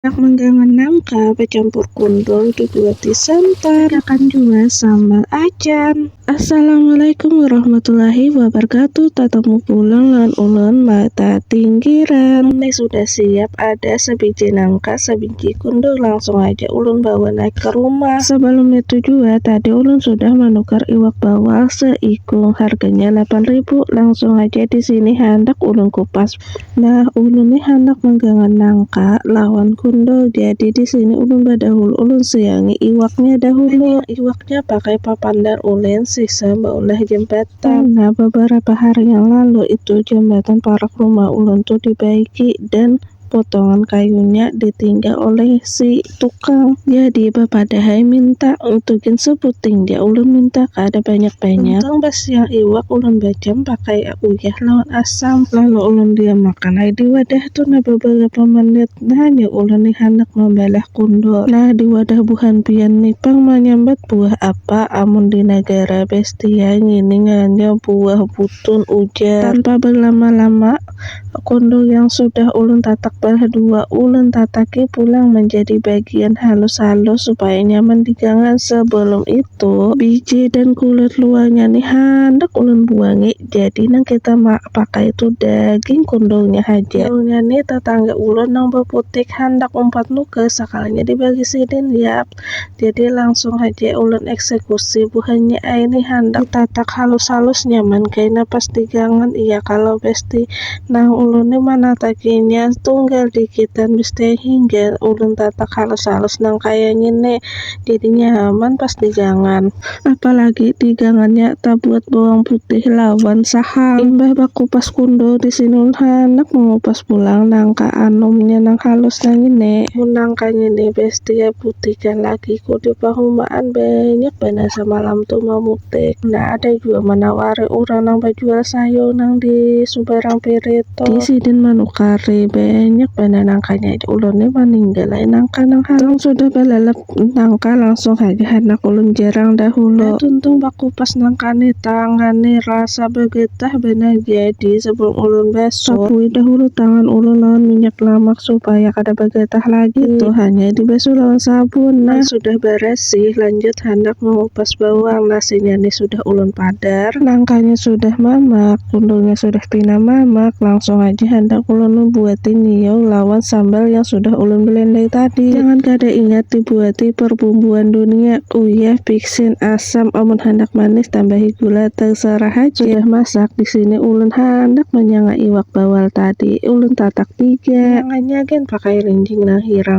Handak manggangan nangka bacampur kundul dibuati santan. Masakan jua sambal acan. Assalamualaikum warahmatullahi wabarakatuh Tatemu pulang lawan ulun mata tinggiran Ini sudah siap ada sabiji nangka sabiji kundul langsung haja ulun bawa naik ka rumah Sabalum nitu jua tadi ulun sudah manukar iwak bawal seikung harganya lapan ribu langsung haja disini handak ulun kupas Nah, ulun ni handak manggangan nangka lawan kundul, jadi di sini ulun badahulu ulun suyangi iwaknya dahulu. Iwaknya pakai papandar ulin sisa baulah jembatan. Nah, babarapa hari yang lalu itu jembatan parak rumah ulun tu dibaiki dan potongan kayunya ditinggal oleh si. Tukang jadi bapadahai minta utuh gin sebuting ja ulun minta kada banyak banyak. Untung basiang iwak ulun bajam pakai uyah lawan asam lalu ulun diam makan ai di wadah tu nah beberapa menit nanya ulun nih handak mambalah kundur nah di wadah buhan pian nih pang manyambat buah apa amun di nagara bestia ngini nganya buah butun ujar tanpa berlama lama Kondor yang sudah ulun tatak balah dua, ulun tataki pulang manjadi bagian halus-halus supaya nyaman digangan. Sebelum itu, biji dan kulit luarnya ni handak ulun buangi, jadi nang kita pakai tu daging kondornya haja. Kondornya ni tatangga ulun nang baputik handak umpat nukar, sakalinya dibagi sidin, yap. Jadi langsung haja ulun eksekusi buhannya ai ni handak ditatak halus-halus nyaman kaina pas digangan iya kalo besti. Nah ulun ni manatakinya tunggal dikitan besti ai hingga ulun tatak halus-halus nang kaya ngini jadinya nyaman pas digangan. Apalagi digangannya tabuat bawang putih lawan saham. Imbah bakupas kundul di sini ulun handak mangupas pulang nangka anumnya nang halus nang ini. Mun nangka ngini best diabutikan lakiku di pahumaan banyak banar samalam tu mamutik. Nah ada jua manawari urang nang bajual sayur nang di subarang pirit tu. Di sidin manukari banyak banar nangkanya jar ulun ni maninggal ai nangka nang halus. Nang sudah balalap Nangka langsung haja handak ulun jarang dahulu. Nah, tuntung bakupas nangka nih, tangan nih rasa begetah banar jadi sebelum ulun basuh. Sapui dahulu tangan ulun lawan minyak lamak supaya kada begetah lagi tuh. Hanya dibasuh lawan sabun. Nah, sudah beresih, lanjut handak mengupas bawang. Nasinya nih sudah. Ulun padar, nangkanya sudah mamak, kundulnya sudah pina mamak, langsung haja handak ulun membuati nyiau lawan sambal yang sudah ulun belendai tadi. Jangan kada ingat dibuati perbumbuan dunia, uyah, biksin, asam, amun handak manis tambahi gula, terserah haja. Sudah masak, di sini ulun handak manyanga iwak bawal tadi, ulun tatak tiga. Manyanganya gin pakai rinjing nang hirang.